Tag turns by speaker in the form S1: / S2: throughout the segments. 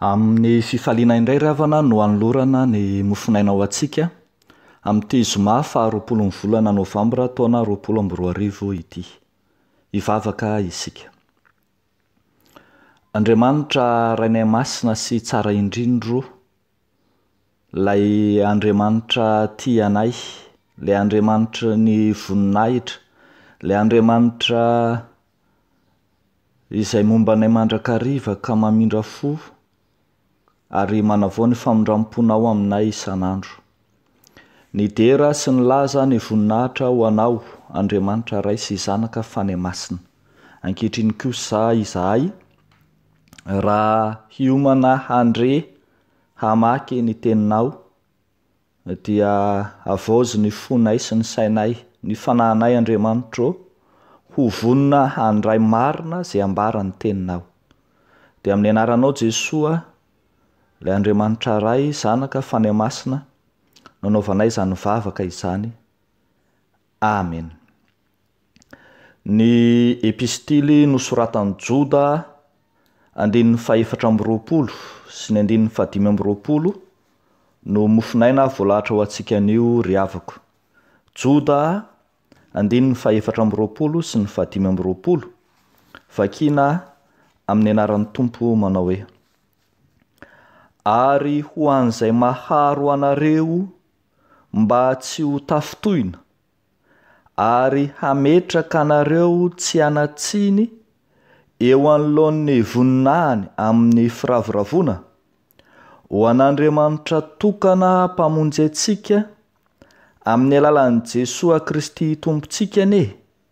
S1: Amin'ny fifaliana indray ry havana no hanolorana ny mofonaina ho antsika, amin'ity zoma faha roapolon'ny volana novambra taona roapolo amby roa arivo ity. Hivavaka isika. Andriamanitra Rainay Masina sy Tsara Indrindro, Ilay Andriamanitra tia anay, Ilay Andriamanitry ny voninahitra, Ilay Andriamanitra izay momba anay mandrakariva ka mamindra fo ary manavao ny famindram-ponao aminay isan'andro. Nidera sy nilaza ny voninahitra ho anao, Andriamanitra Ray sy Zanaka Fanahy Masina. Ankehitriny kosa izahay, raha hiomana handre hamaky ny Teninao, Dia havaozy ny fonay sy ny sainay, ny fanahinay Andriamanitro ô, ho vonona handray marina izay ambara ny teninao. Dia amin'ny anaranao Jesoa, ilay Andriamanitra Ray, Zanaka, Fanahy Masina, no anaovanay izany vavaka izany. Amen. Ny Epistily nosoratan'i Joda, andininy fahefatra amby roapolo sy ny andininy fahadimy amby roapolo no mofonaina voalahatra ho antsika anio ry havako. Joda, andininy fahefatra amby roapolo sy ny fahadimy amby roapolo, vakiana amin'ny anaran'ny Tompo manao hoe, Ary ho an'izay maharo anareo mba tsy ho tafintohina, ary hametraka anareo tsy hanan-tsiny eo anoloan'ny voninahiny amin'ny firavoravoana, ho an'Andriamanitra tokana Mpamonjy antsika, amin'ny alalan'i Jesoa Kristy Tompontsika anie.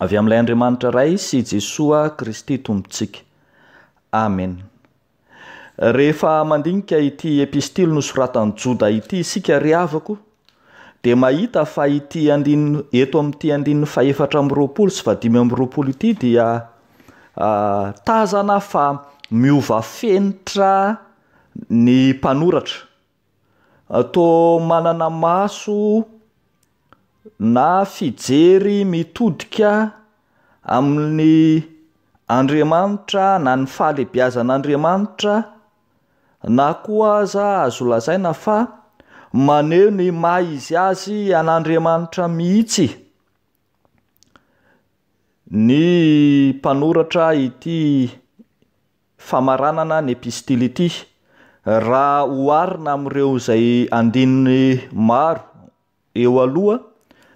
S1: avy amin'ilay Andriamanitra Ray sy Jesoa Kristy Tompontsika. Amena. Rehefa mandinika ity epistily nosoratan'i Joda ity isika, ry havako, dia mahita fa ity andininy, eto amin'ity andininy fahefatra amby roapolo sy fahadimy amby roapolo ity dia uh, tazana fa miova fenitra ny mpanoratra. Toa manana maso na fijery mitodika amin'ny Andriamanitra na ny fahalebiazan'Andriamanitra na koa aza azo lazaina fa maneho ny maha izy azy an'Andriamanitra mihitsy ny mpanoratra ity famaranana ny epistily ity, raha oharina amin'ireo izay andininy maro eo aloha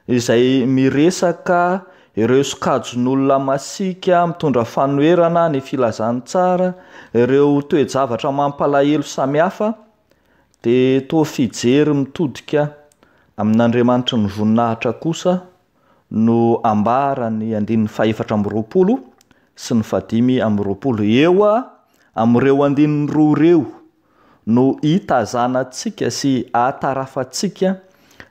S1: izay miresaka ireo sokajin'olona masiaka mitondra fanoherana ny filazantsara, ireo toe-javatra mampalahelo samihafa, dia toa fijery mitodika amin'Andriamanitry ny voninahitra kosa no ambaran'ny andininy fahefatra amby roapolo sy ny fahadimy amby roapolo. Eo amin'ireo andininy roa ireo no itazanantsika sy atarafantsika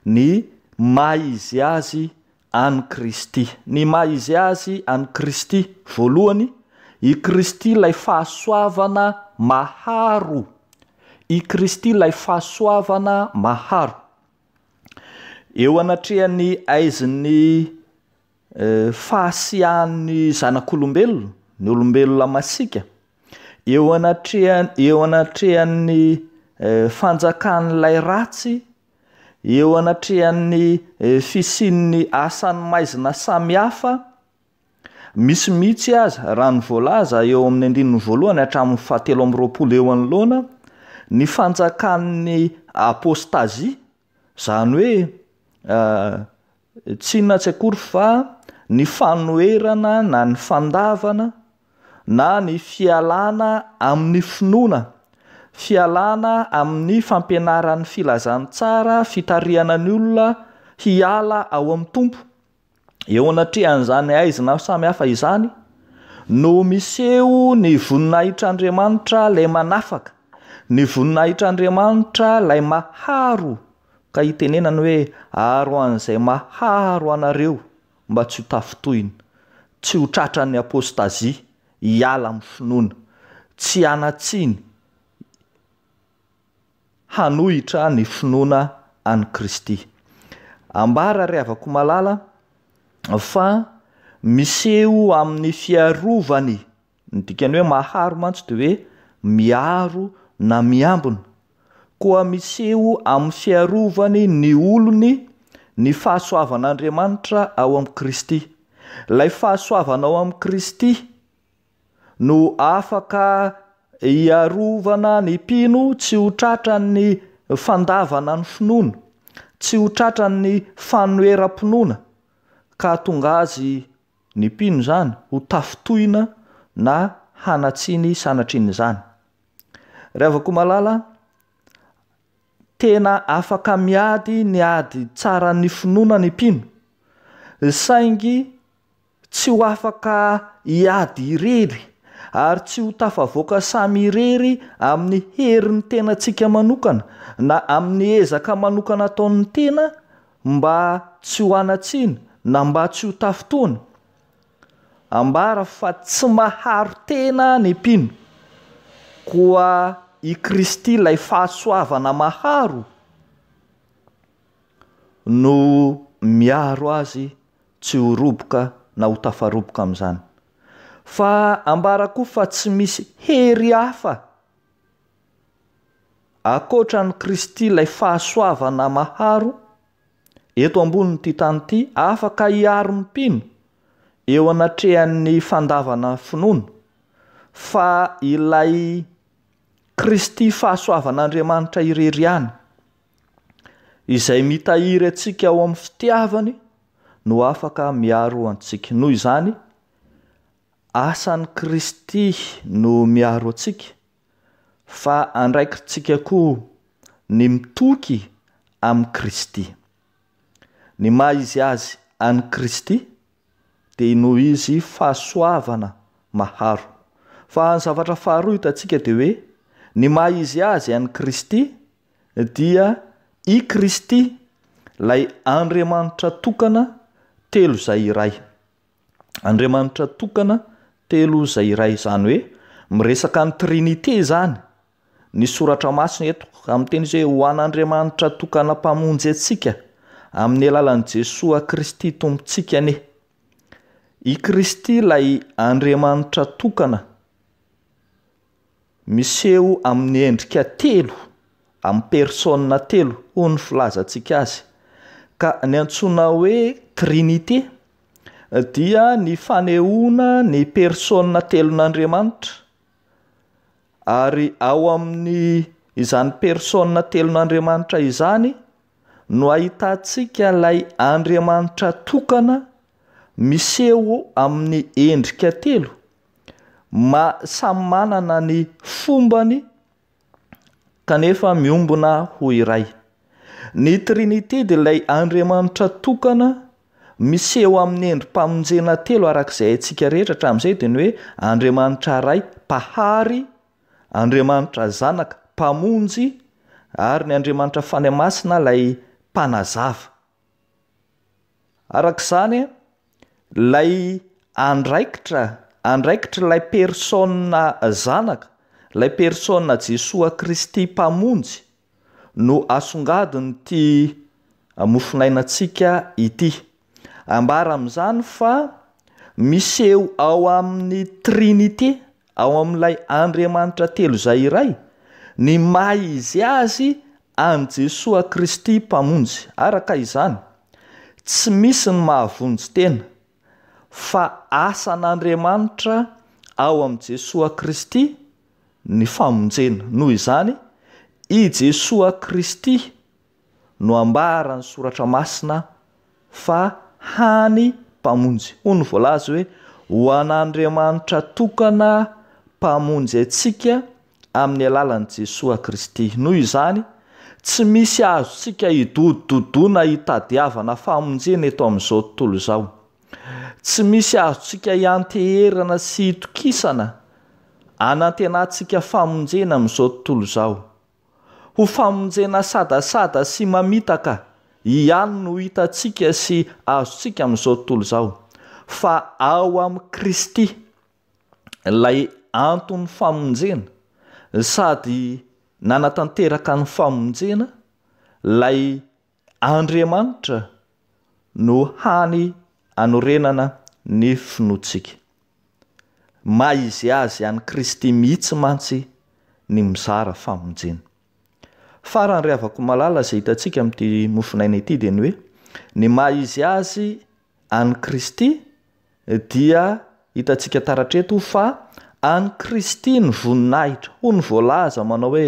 S1: ny maha izy azy an'i Kristy. Ny maha izy azy an'i Kristy, voalohany, i Kristy ilay fahasoavana maharo. I Kristy ilay fahasoavana maharo. Eo anatrehan'ny haizin'ny fahasiahan'ny zanak'olombelona, ny olombelona masiaka, eo anatrehan- eo anatrehan'ny fanjakan'ilay ratsy, eo anatrehan'ny fisian'ny asan'ny maizina samihafa, Misy mihitsy aza, raha ny voalaza eo amin'ny andininy voalohany hatramin'ny fahatelo amby roapolo eo anoloana, ny fanjakan'ny apôstazia, izany hoe tsy inona tsy akory fa ny fanoherana na ny fandavana na ny fialana amin'ny finoana, fialana amin'ny fampianaran'ny Filazantsara fitarihana ny olona hiala ao amin'ny Tompo, Eo anatrehan'izany haizina samy hafa izany no miseho ny voninahitr'Andriamanitra ilay manafaka, ny voninahitr'Andriamanitra ilay maharo ka itenenany hoe aro an'izay maharo anareo mba tsy ho tafintohina, tsy ho tratran'ny apôstazia, hiala amin'ny finoana, tsy hanatsiny, hanohitra ny finoana an'i Kristy. Ambara ry havako malala fa miseho amin'ny fiarovany, ny dikany hoe maharo mantsy dia hoe miaro na miambina, koa miseho amin'ny fiarovany ny olony ny fahasoavan'Andriamanitra ao amin'i Kristy. Ilay fahasoavana ao amin'i Kristy. no afaka hiarovana ny mpino tsy ho tratran'ny fandavana ny finoana, tsy ho tratran'ny fanoheram-pinoana ka hahatonga azy, ny mpino izany, ho tafintohina na hanatsiny sanatrin'izany. Ry havako malala, tena afaka miady ny ady tsaran'ny finoana ny mpino, saingy Tsy ho afaka hiady irery, ary tsy ho tafavoaka samy irery amin'ny herin'ny tenantsika manokana na amin'ny ezaka manokana ataon'ny tena mba tsy ho hanatsiny na mba tsy ho tafintohina. Ambara fa tsy maharo tena ny mpino, koa i Kristy ilay fahasoavana maharo no miaro azy tsy ho roboka na ho tafaroboka amin'izany. Fa ambara koa fa tsy misy hery hafa ankoatra an'i Kristy ilay fahasoavana maharo eto ambonin'ity tany ity afaka hiaro ny mpino eo anatrehan'ny fandavana finoana fa ilay Kristy fahasoavan'Andriamanitra irery ihany Izay mitahiry antsika ao amin'ny fitiavany no afaka miaro antsika. Noho izany, asan'i Kristy no miaro antsika, fa andraikitsika koa ny mitoky amin'i Kristy. Ny maha izy azy an'i Kristy dia noho izy fahasoavana maharo. Fa ny zavatra faharoa hitantsika dia hoe ny maha izy azy an'i Kristy dia i Kristy, ilay Andriamanitra tokana telo izay iray. Andriamanitra tokana telo izay iray, izany hoe miresaka ny Trinite izany ny soratra masina eto, amin'ny teny izay ho an'Andriamanitra tokana mpamonjy antsika amin'ny alalan'i Jesoa Kristy Tompontsika anie. I Kristy ilay Andriamanitra tokana. Miseho amin'ny endrika telo, amin'ny persona telo hoy ny filazantsika azy, ka ny antsoina hoe Trinite dia ny fanehoana ny persona telon'Andriamanitra, ary ao amin'ny izany persona telon'Andriamanitra izany no ahitantsika ilay Andriamanitra tokana miseho amin'ny endrika telo, ma samy manana ny fombany kanefa miombona ho iray. Ny Trinité dia ilay Andriamanitra tokana miseho amin'ny endri-pamonjena telo araka izay haintsika rehetra hatramin'izay dia ny hoe Andriamanitra Ray, Mpahary, Andriamanitra Zanaka, Mpamonjy ary ny Andriamanitra Fanahy Masina ilay Mpanazava. Araka izany, ilay andraikitra, andraikitr'ilay persona Zanaka, ilay persona Jesoa Kristy Mpamonjy no asongadin'ity mofonainantsika ity. Ambara amin'izany fa miseho ao amin'ny Trinite. ao amin'ilay Andriamanitra telo izay iray, ny maha izy azy an'i Jesoa Kristy Mpamonjy. Araka izany, tsy misy ny mahavonjy tena, fa asan'Andriamanitra ao amin'i Jesoa Kristy ny famonjena. Noho izany, i Jesoa Kristy, no ambaran'ny soratra masina fa hany Mpamonjy. Hoy ny voalaza hoe, Ho an'Andriamanitra tokana Mpamonjy antsika amin'ny alalan'i Jesoa Kristy. Noho izany, tsy misy azontsika hidodododoana hitadiavana famonjena eto amin'izao tontolo izao. Tsy misy azontsika hianteherana sy hitokisana hanantenantsika famonjena amin'izao tontolo izao. Ho famonjena sadasada sy mamitaka ihany no hitantsika sy azontsika amin'izao tontolo izao, fa ao amin'i Kristy ilay anton'ny famonjena, sady nanatanteraka ny famonjena, ilay Andriamanitra no hany anorenana ny finoantsika. Maha izy azy an'i Kristy mihitsy mantsy ny mizara famonjena. Farany ry havako malala izay hitantsika amin'ity mofonaina ity dia ny hoe ny maha izy azy an'i Kristy dia hitantsika taratreto fa an'i Kristy ny voninahitra. Hoy ny voalaza manao hoe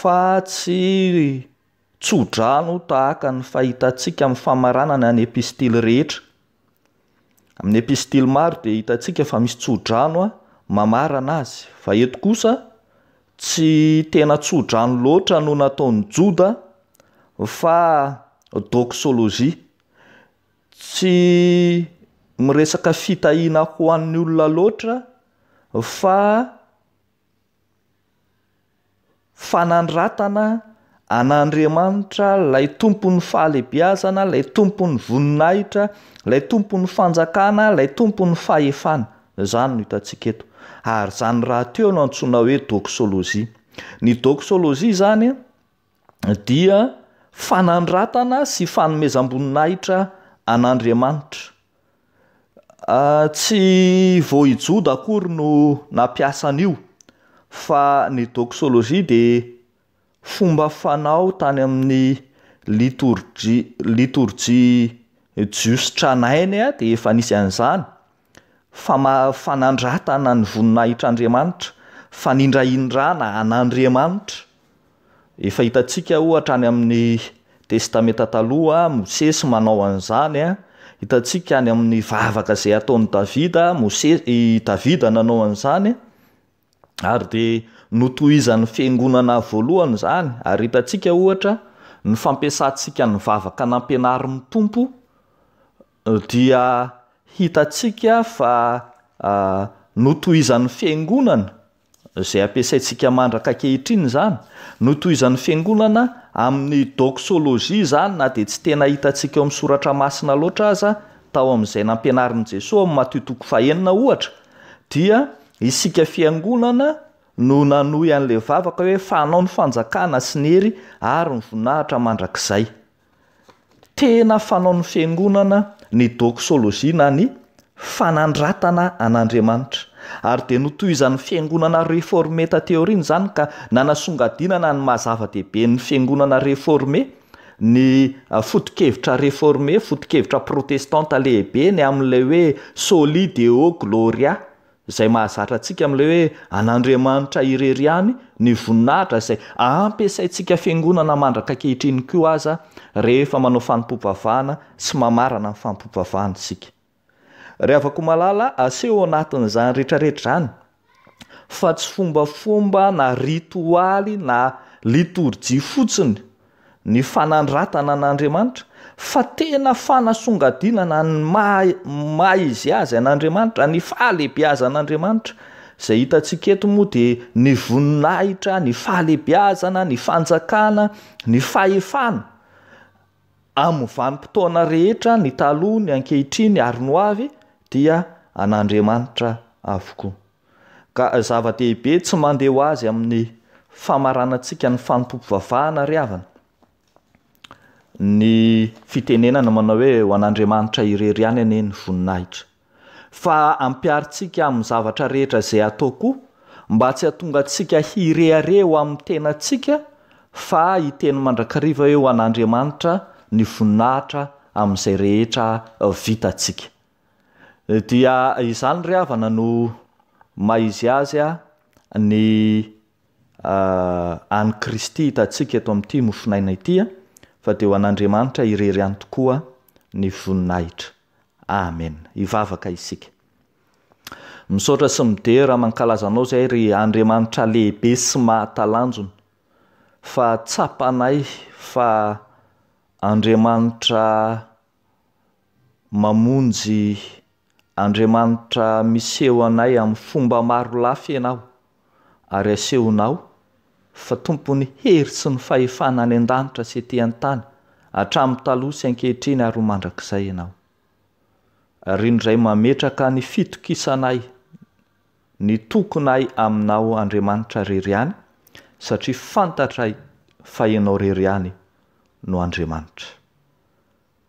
S1: fa tsy tso-drano tahaka ny fahitantsika amin'ny famaranana ny epistily rehetra. Amin'ny epistily maro dia hitantsika fa misy tso-drano mamarana azy, fa eto kosa tsy tena tso-drano loatra no nataon'i Joda fa doxologie. Tsy miresaka fitahiana ho an'ny olona loatra fa fanandratana an'Andriamanitra, ilay tompon'ny fahalehibiazana, ilay tompon'ny voninahitra, ilay tompon'ny fanjakana, ilay tompon'ny fahefana. Izany no hitantsika eto. Ary izany rahateo no antsoina hoe doxologie. Ny doxologie izany dia fanandratana sy fanomezam-boninahitra an'Andriamanitra. Tsy vao i Joda akory no nampiasa an'io, fa ny doxologie dia fomba fanao tany amin'ny litorjia litorjia jiosy tranainy dia efa nisy an'izany, fama- fanandratana ny voninahitr'Andriamanitra, fanindrahindrana an'Andriamanitra. Efa hitantsika ohatra any amin'ny Testamenta Taloha, Mosesy manao an'izany a, hitantsika any amin'ny vavaka izay ataon'i Davida, Mosesy i Davida nanao an'izany ary dia notohizan'ny fiangonana voalohany izany ary hitantsika ohatra ny fampiasantsika ny vavaka nampianarin'ny Tompo eh, dia hitantsika fa ah, notohizan'ny fiangonana izay ampiasaintsika mandraka ankehitriny izany, notohizan'ny Fiangonana amin'ny doxologie izany na dia tsy tena hitantsika ao amin'ny Soratra Masina loatra aza, tao amin'izay nampianarin'i Jesoa ao amin'ny Matio toko fahenina ohatra, dia isika Fiangonana no nanohy an'ilay vavaka hoe, Fanao ny fanjakana sy ny hery ary ny voninahitra mandrakizay. tena fanaon'ny fiangonana ny doxologie na ny fanandratana an'Andriamanitra ary dia notohizan'ny fiangonana reforme taty aoriana izany ka nanasongadinana ny maha zava-dehibe ny fiangonana reforme ny ah, fotokevitra reforme, fotokevitra protestanta lehibe ny amin'ilay hoe soli deo gloria, Izay mahazatra antsika amin'ilay hoe an'Andriamanitra irery ihany ny voninahitra izay ampiasaintsika fiangonana mandraka ankehitriny koa aza rehefa manao fanompoam-pivavahana sy mamarana ny fanompoam-pivavahana isika. Ry havako malala, aseho ao anatin'izany rehetrarehetra izany fa tsy fombafomba na ritoaly na litorjia fotsiny ny fanandratana an'Andriamanitra, fa tena fanasongadinana ny maha izy azy an'Andriamanitra, ny fahalehibiazan'Andriamanitra. Izay hitantsika eto moa dia ny voninahitra, ny fahalehibiazana, ny fanjakana, ny fahefana amin'ny vanim-potoana rehetra, ny taloha, ny ankehitriny ary ny ho avy dia an'Andriamanitra avokoa. Ka zava-dehibe tsy mandeha ho azy amin'ny famaranantsika ny fanompoam-pivavahana ry havana, ny fitenenana manao hoe ho an'Andriamanitra irery ihany anie ny voninahitra. Fa ampiharintsika amin'ny zavatra rehetra izay atao koa mba tsy hahatonga antsika hirehareha eo amin'ny tenantsika fa hiteny mandrakariva hoe ho an'Andriamanitra ny voninahitra amin'izay rehetra vitantsika. Dia izany ry havana no maiziazy a ny an'i Kristy hitantsika eto amin'ity mofonaina ity a, fa dia ho an'Andriamanitra irery ihany tokoa ny voninahitra. Amen. Hivavaka isika. Misaotra sy midera mankalaza anao izay ry Andriamanitra lehibe sy mahatalanjona fa tsapanay fa Andriamanitra Mamonjy Andriamanitra Miseho anay amin'ny fomba maro lafy ianao, ary asehonao fa tompon'ny hery sy ny fahefana any an-danitra sy ety an-tany, hatramin'ny taloha sy ankehitriny ary ho mandrakizay ianao. Ary indray mametraka ny fitokisanay, ny tokinay aminao Andriamanitra rery ihany, satria fantatray fa ianao rery ihany no Andriamanitra.